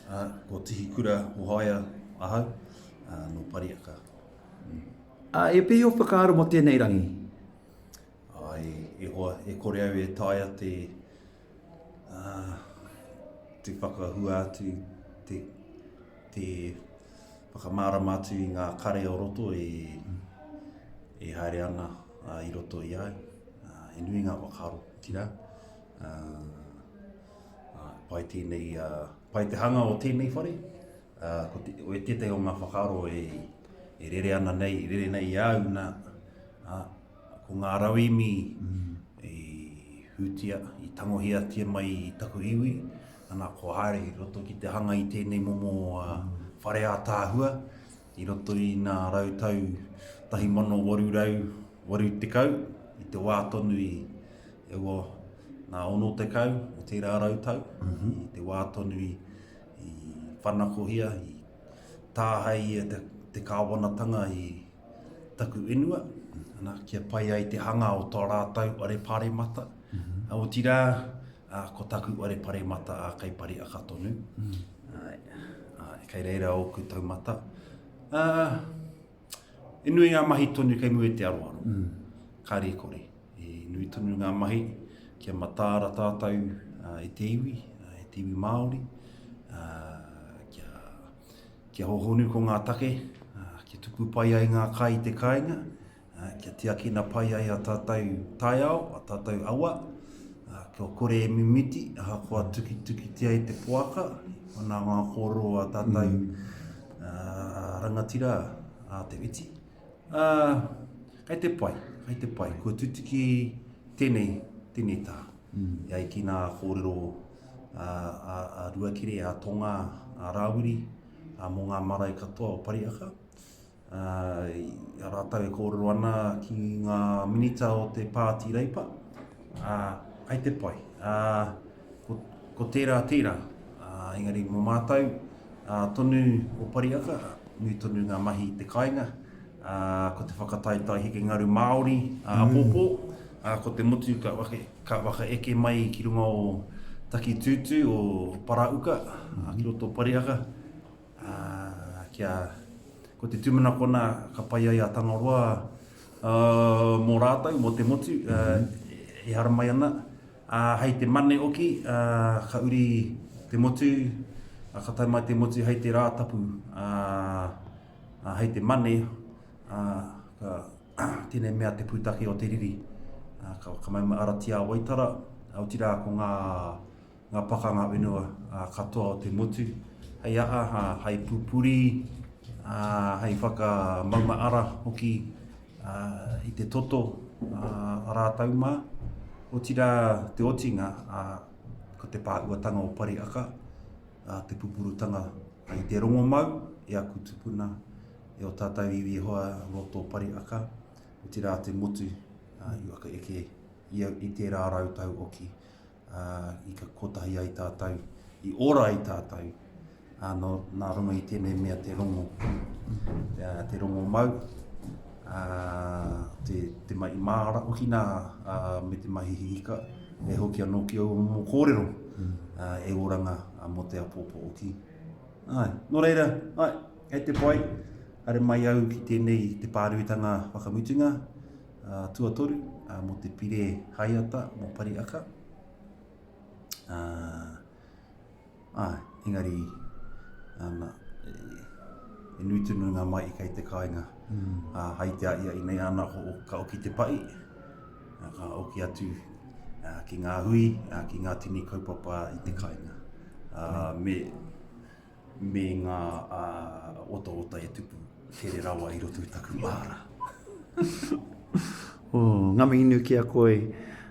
Uh, ko Tihi Kura Mohaia ahau, uh, no Pariaka. Mm. Uh, e pehi o whakaaro mo tēnei rangi? Ai, e hoa, e kore au e taia te, uh, te whakahua atu, te, te whakamārama atu i ngā kare o roto e, e haere ana uh, i roto i ai. Uh, e nui ngā whakaaro, tira. Uh, Pai tēnei, pai te hanga o tēnei whare, ko te, o tētahi o ngā whakaaro e, e rere ana nei, rere nei i au nā, ko ngā rauemi mm. i hūtia, i tangohia tia mai i taku iwi, ana ko haere i roto ki te hanga i tēnei momo uh, whare ātāhua, I roto i ngā rautau 1880, i te wā tonu i e ua ngā ono tekau o tērā rautau, mm -hmm. i te wā tonu i, i whanakohia, i tāhei e te, te kāwanatanga i taku inua, ana, kia pai ai te hanga o tō rātau are pāremata. Mm -hmm. Aotira, Ā, ko taku ware paremata ā kei Pariaka tonu. Āe, āe, kei reira ōku taumata. Ā, i nui ngā mahi tonu kei mua i te aroaro. Kāre i kore, i nui tonu ngā mahi kia mataara tātou i te iwi, i te iwi Māori, ā, kia, kia hohonu ko ngā take, ā, kia tuku pai ai ngā kai i te kāinga, kia tiakina pai ai a tātou taiao, a tātou awa, kia kore e mimiti, ahakoa tukitukitia i te poaka, ana ngā kōrero a tātou mm. uh, rangatira a te witi. Uh, kei te pai, kei te pai, kua tutuki tēnei, tēnei tā. Mm. E ai ki nā kōrero a, a, a Ruakere, a Tonga, a Rāwiri, a mō ngā marae katoa o Pariaka. a rātou e kōrero ana ki ngā minita o te Pāti Reipa, ā, kai te pai. Ā, ko, ko tērā, tērā. Ā, engari mō mātou, ā, tonu o Pariaka, nui tonu ngā mahi i te kāinga, ā, ko te whakataetae heke ngaru Māori, ā, mm. pōpō, ā, ko te motu ka, wake, ka waka eke mai ki runga o taki tūtū o Parauka, ā, ki roto Pariaka, Ā, kia, ko te tūmanakona ka pai ai a Tangaroa, ā, mō rātou, mō te motu, ā, e haramai ana. Ā, hei te Mane oki, ā, ka uri te motu, ā, ka tae mai te motu hei te Rātapu, ā, ā, hei te Mane, ā, ka, tēnei mea te pūtake o te riri, ā, ka, ka mai mai Aratiāwaitara, ā, otirā ko ngā, ngā pakanga whenua katoa o te motu, hei aha, hei pupuri, hei whakamaunga ara hoki i te toto rātou mā. Otirā te otinga, ko te pāhuatanga o Pari Aka, te pupurutanga i te rongomau e aku tupuna, e o tātou iwi e hoa roto Pari Aka, otirā te motu i whakaeke i tērā rau tau oki. i ka kotahi ai tātou, i ora ai tātou, uh, no, nā runga i tēnei mea te rongo, uh, te rongo mau, uh, te, te mai māra, o kina uh, me te mahi hihika, e hoki anō ki au mō kōrero, mm. uh, e oranga uh, mō te apōpō o ki. Ai, nō reira, ai, hei te pai, are mai au ki tēnei te pāruitanga whakamutunga, tuatoru mō te pire haiata mō Pariaka. Ā, engari, ana, e, e nui tunu ngā mai i kei te kāinga. Mm. Ā, hai te aia i nei ana ko ka oki te pai, ā, ka oki atu ā, ki ngā hui, ā, ki ngā tini kaupapa i te kāinga. Ā, me, me ngā otaota e tupu here rawa i roto i taku māra. Ngā mihi nui ki a koe.